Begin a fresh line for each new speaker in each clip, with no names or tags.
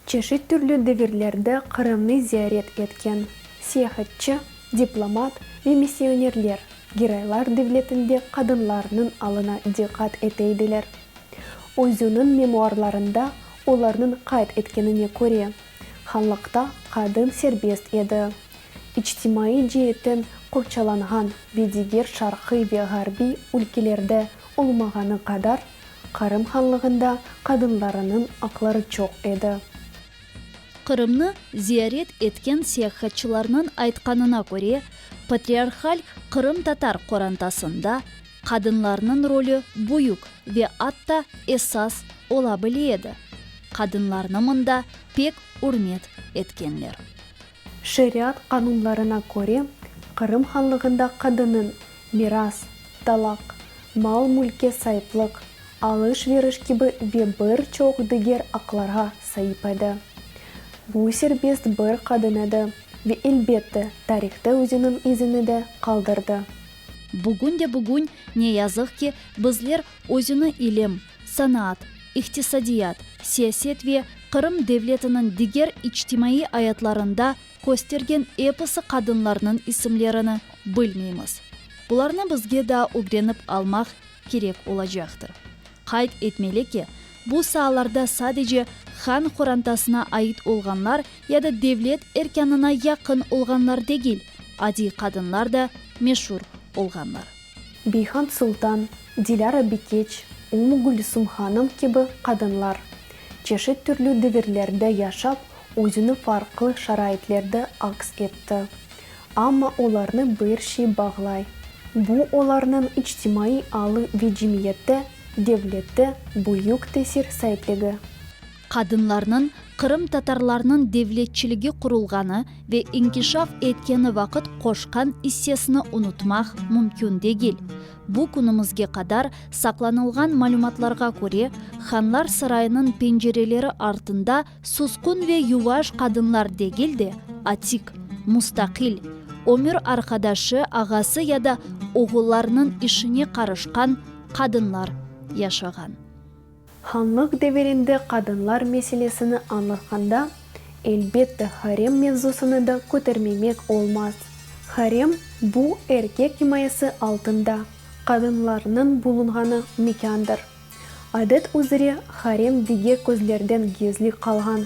Çeşit türlü devirlerde Qırımnı ziyaret etken siyahatçı, diplomat ve missionerler Giraylar devletinde qadınlarnıñ alına diqqat eteydiler. Özüniñ memuarlarında Olarnıñ qayd etkenine köre, hanlıqta qadın serbest edi. İçtimaiy ceetten qorçalanğan ve diger şarqiy ve ğarbiy ülkelerde olmağanı qadar, Qırım Hanlığında qadınlarınıñ aqları çoq edi.
Qırımnı ziyaret etken seyahatçılarnıñ aytqanına köre, patriarhal qırımtatar qorantasında qadınlarnıñ rolü büyük ve atta esas ola bile edi. Qadınlarnı mında pek ürmet etkenler.
Şeriat qanunlarına köre, Qırım Hanlığında qadınıñ miras, talaq, mal-mülke saiplıq, alış-veriş kibi ve bir çoq diger aqlarğa saip edi. Bu serbest bir qadın edi ve, elbette, tarihta özüniñ izini de qaldırdı. Bugün de
bugün, ne yazıq ki, bizler özüni ilim, sanaat, iqtisadiyat, siyaset ve Qırım devletiniñ diger içtimaiy ayatlarında köstergen episi qadınlarnıñ isimlerini bilmeymiz. Bularnı bizge daa ögrenip almaq kerek olacaqtır. Qayd etmeli ki, bu saalarda sadece han qorantasına ait olğanlar ya da devlet erkânına yaqın olğanlar degil, adiy qadınlar da meşur olğanlar. Beyhand
Sultan, Dilâra Bikeç, Ümmü Gülüsüm hanım kibi qadınlar, çeşit türlü devirlerde yaşap, özüni farqlı şaraitlerde aks etti. Amma olarnı bir şey bağlay, bu olarnıñ içtimaiy alı ve cemiyette, devlette büyük tesir saipligi. Qadınlarnıñ
qırımtatarlarnıñ devletçiligi qurulğanı ve inkişaf etkeni vaqıt qoşqan issesini unutmaq mümkün degil. Bu künümizge qadar saqlanılğan malümatlarğa köre, Hanlar sarayınıñ pencereleri artında Susqun ve yuvaş qadınlar degil de, atik, mustaqil, ömür arqadaşı, ağası ya da oğullarınıñ işine qarışqan qadınlar yaşağan.
Hanlıq devirinde qadınlar meselesini añlatqanda, elbette, harem mevzusını da kötermemek olmaz. Harem, bu, erkek imayesi altında qadınlarnıñ bulunğanı mekândır. Adet üzere, harem diger közlerden gizli qalğan,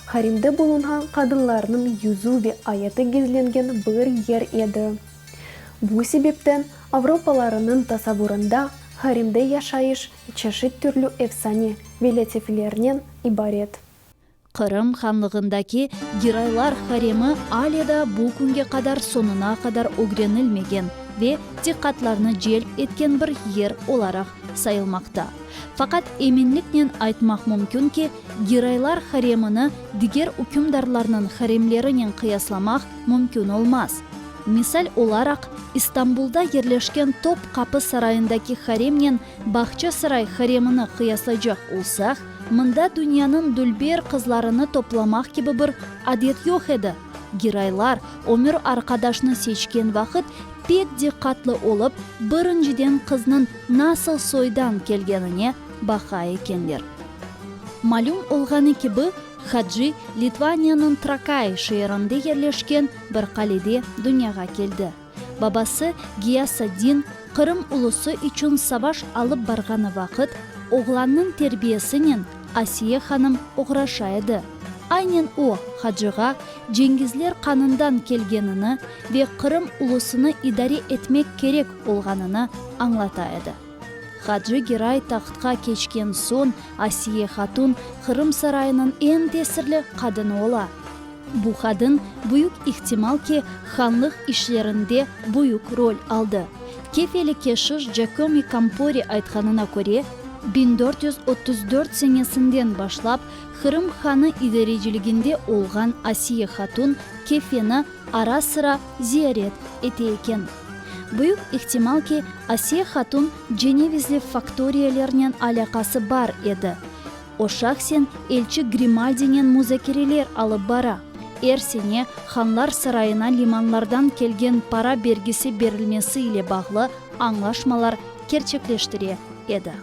haremde bulunğan qadınlarnıñ yüzü ve ayatı gizlengen bir yer edi. Bu sebepten avropalarınıñ tasavurında haremde yaşayış çeşit türlü efsane ve lâtiflernen ibaret. Qırım
hanlığındaki giraylar haremi ale da bu künge qadar soñuna qadar ögrenilmegen ve diqqatlarnı celp etken bir yer olaraq sayılmaqta. Faqat eminliknen aytmaq mümkün ki, giraylar haremini diger ükümdarlarnıñ haremlerinen qıyaslamaq mümkün olmaz. Misal olaraq, İstanbulda yerleşken Top-Qapı Sarayındaki haremnen Bağça Saray haremini qıyaslaycaq olsaq, mında dünyanıñ dülber qızlarını toplamaq kibi bir adet yoq edi. Giroylar, ömür arqadaşnı seçken vaqıt, pek diqqatlı olıp, birinciden qıznıñ nasıl soydan kelgenine baqa ekenler. Malüm olğanı kibi, Hadji, Litvaniyanıñ Trakay şeerinde yerleşken bir qalede dünyağa keldi. Babası, Giyasaddin, Qırım ulusı içün savaş alıp barğanı vaqıt, oğlannıñ terbiyesinen Asiye hanım oğraşa edi. Aynen o, hacığa, Cengizler qanından kelgenini ve Qırım ulusını idare etmek kerek olğanını añlata edi. Hacı Giray tahtqa keçken soñ Asiye hatun Qırım sarayınıñ eñ tesirli qadını ola. Bu qadın, büyük ihtimal ki, hanlıq işlerinde büyük rol aldı. Kefeli keşiş Giacomi Campori aytqanına köre, biñ dört yüz otuz dört senesinden başlap Qırım hanı idareciliginde olğan Asiye hatun Kefeni, Ara-sıra ziyaret ete eken. Büyük ihtimal ki, Asiye hatun cenevizli faktoriyalernen alâqası bar edi. O şahsen elçi Grimaldinen muzakereler alıp bara, er sene Hanlar sarayına limanlardan kelgen para bergisi berilmesi ile bağlı añlaşmalar kerçekleştire edi.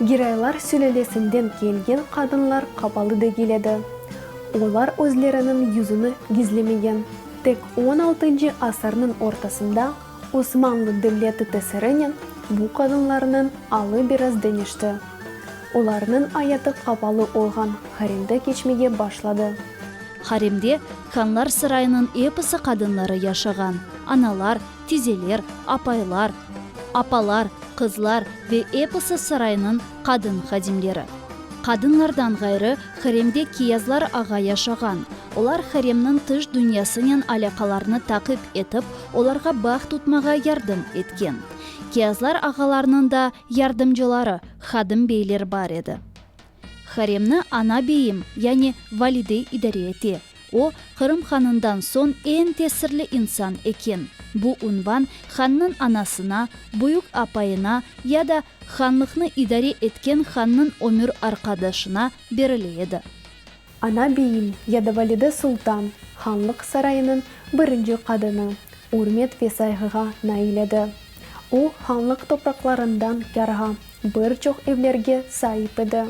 Giraylar sülelesinden kelgen qadınlar qapalı degil edi. Olar özleriniñ yüzüni gizlemegen. Tek on altıncı asırnıñ ortasında Osmanlı devleti tesirinen bu qadınlarnıñ alı biraz deñişti. Olarnıñ ayatı qapalı olğan haremde keçmege başladı. Haremde
Hanlar Sarayınıñ episi qadınları yaşağan. Analar, tizeler, apaylar, apalar, qızlar ve episi saraynıñ qadın hadimleri. Qadınlardan ğayrı, haremde kiyazlar ağa yaşağan. Olar haremniñ tış dünyasınen alâqalarnı taqip etip, olarğa bağ tutmağa yardım etken. Kiyazlar ağalarnıñ da yardımcıları, hadım beyler bar edi. Haremni ana beyim, yani valide idare ete. O, Qırım hanından soñ eñ tesirli insan eken. Bu unvan hannıñ anasına, büyük apayına ya da hanlıqnı idare etken hannıñ ömür arqadaşına berile edi. Ana
beyim ya da valide sultan, hanlıq sarayınıñ birinci qadını, ürmet ve sayğığa nail edi. O, hanlıq topraqlarından yarğa bir çoq evlerge saip edi.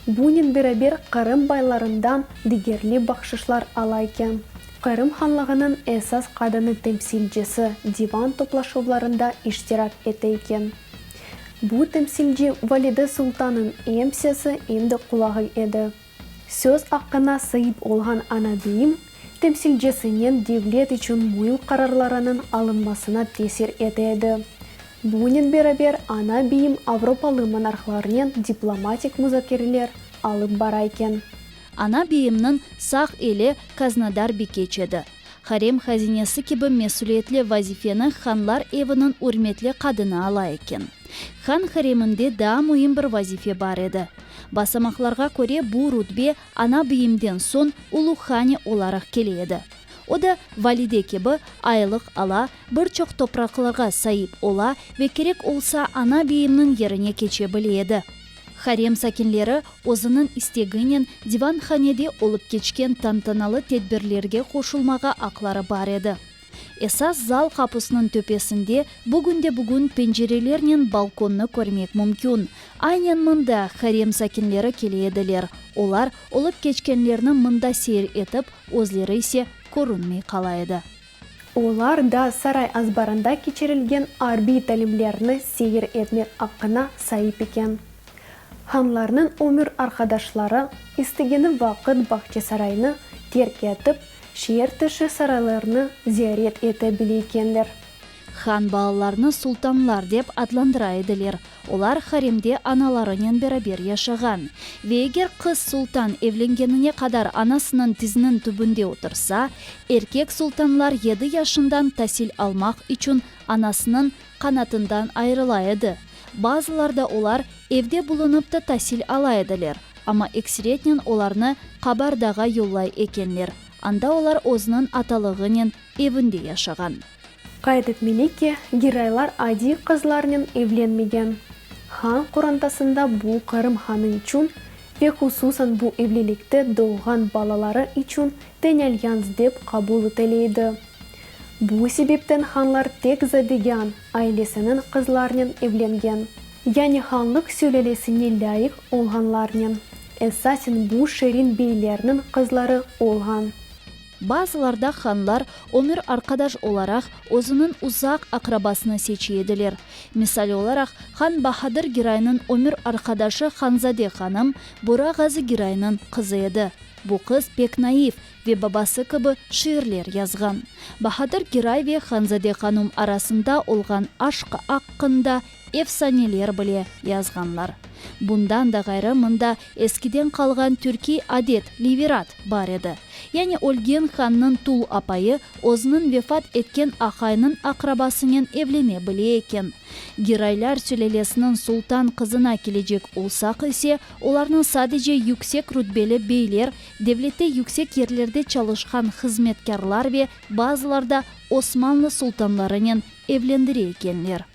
Bunen beraber Qırım baylarından digerli bahşışlar ala eken. Qırım hanlığınıñ esas qadını temsilcisi divan toplaşuvlarında iştirak ete eken. Bu temsilci valide sultanıñ em sesi, em de qulağı edi. Söz aqqına saip olğan ana deyim temsilcisinen devlet içün müim qararlarınıñ alınmasına tesir ete edi. Bunen beraber ana beyim avropalı monarhlarnen diplomatik muzakereler alıp barayken. Ana
beyimniñ sağ eli Kaznadar Bikeç edi. Harem hazinesi kibi mesüliyetli vazifeni hanlar eviniñ ürmetli qadını ala eken. Han hareminde daa müim bir vazife bar edi. Basamaqlarğa köre, bu rütbe ana biyimden soñ ulu hane olaraq kele edi. O da, valide kibi, aylıq ala, bir çoq topraqlarğa saip ola ve kerek olsa ana biyimniñ yerine keçe bile edi. Harem sakinleri özüniñ isteginen divanhanede olıp keçken tantanalı tedbirlerge qoşulmağa aqları bar edi. Esas zal qapusınıñ töpesinde bugün de bugün pencerelernen balkonnı körmek mümkün. Aynen mında harem sakinleri kele ediler, olar olıp keçkenlerni mında seyir etip, özleri ise körünmey qala edi. Olar
da saray azbarında keçirilgen arbiy talimlerni seyir etmek aqqına saip eken. Hanlarnıñ ömür arqadaşları istegeni vaqıt Bağçasaraynı terk etip, şeer tışı saraylarnı ziyaret ete bile ekenler. Han
balalarını sultanlar dep adlandıra ediler. Olar haremde analarınen beraber yaşağan. Ve eger qız sultan evlengenine qadar anasınıñ tiziniñ tübünde otursa, erkek sultanlar yedi yaşından tasil almaq içün anasınıñ qanatından ayırıla edi. Bazılarda olar evde bulunıp ta tasil ala ediler, amma ekseretnen olarnı Qabardağa yollay ekenler, anda olar özüniñ atalığınen evinde yaşağan. Qayd
etmeli ki, Giraylar adiy qızlarnen evlenmegen. Han qorantasında bu Qırım hanı içün ve hususan bu evlilikte doğğan balaları içün tenelyanz dep qabul etile edi. Bu sebepten hanlar tek Zadegan ailesiniñ qızlarnen evlengen. Yani hanlıq sülelesine lâyıq olğanlarnen, esasen bu şerin beylerniñ qızları olğan. Bazılarda
hanlar ömür arqadaş olaraq özüniñ uzaq aqrabasını seçi ediler. Misal olaraq, han Bahadır Giraynıñ ömür arqadaşı Hanzade hanım Bura Ğazı Giraynıñ qızı edi. Bu qız pek naiv ve babası kibi şiirler yazğan. Bahadır Giray ve Hanzade hanum arasında olğan aşq aqqında efsaneler bile yazğanlar. Bundan da ğayrı mında eskiden qalğan türkiy adet, livirat, bar edi. Yani ölgen hannıñ tul apayı özüniñ vefat etken aqaynıñ aqrabasınen evlene bile eken. Giroylar sülelesiniñ sultan qızına kelecek olsaq ise, olarnı sadece yüksek rütbeli beyler, devlette yüksek yerlerde çalışqan hızmetkârlar ve bazılarda Osmanlı sultanlarınen evlendire ekenler.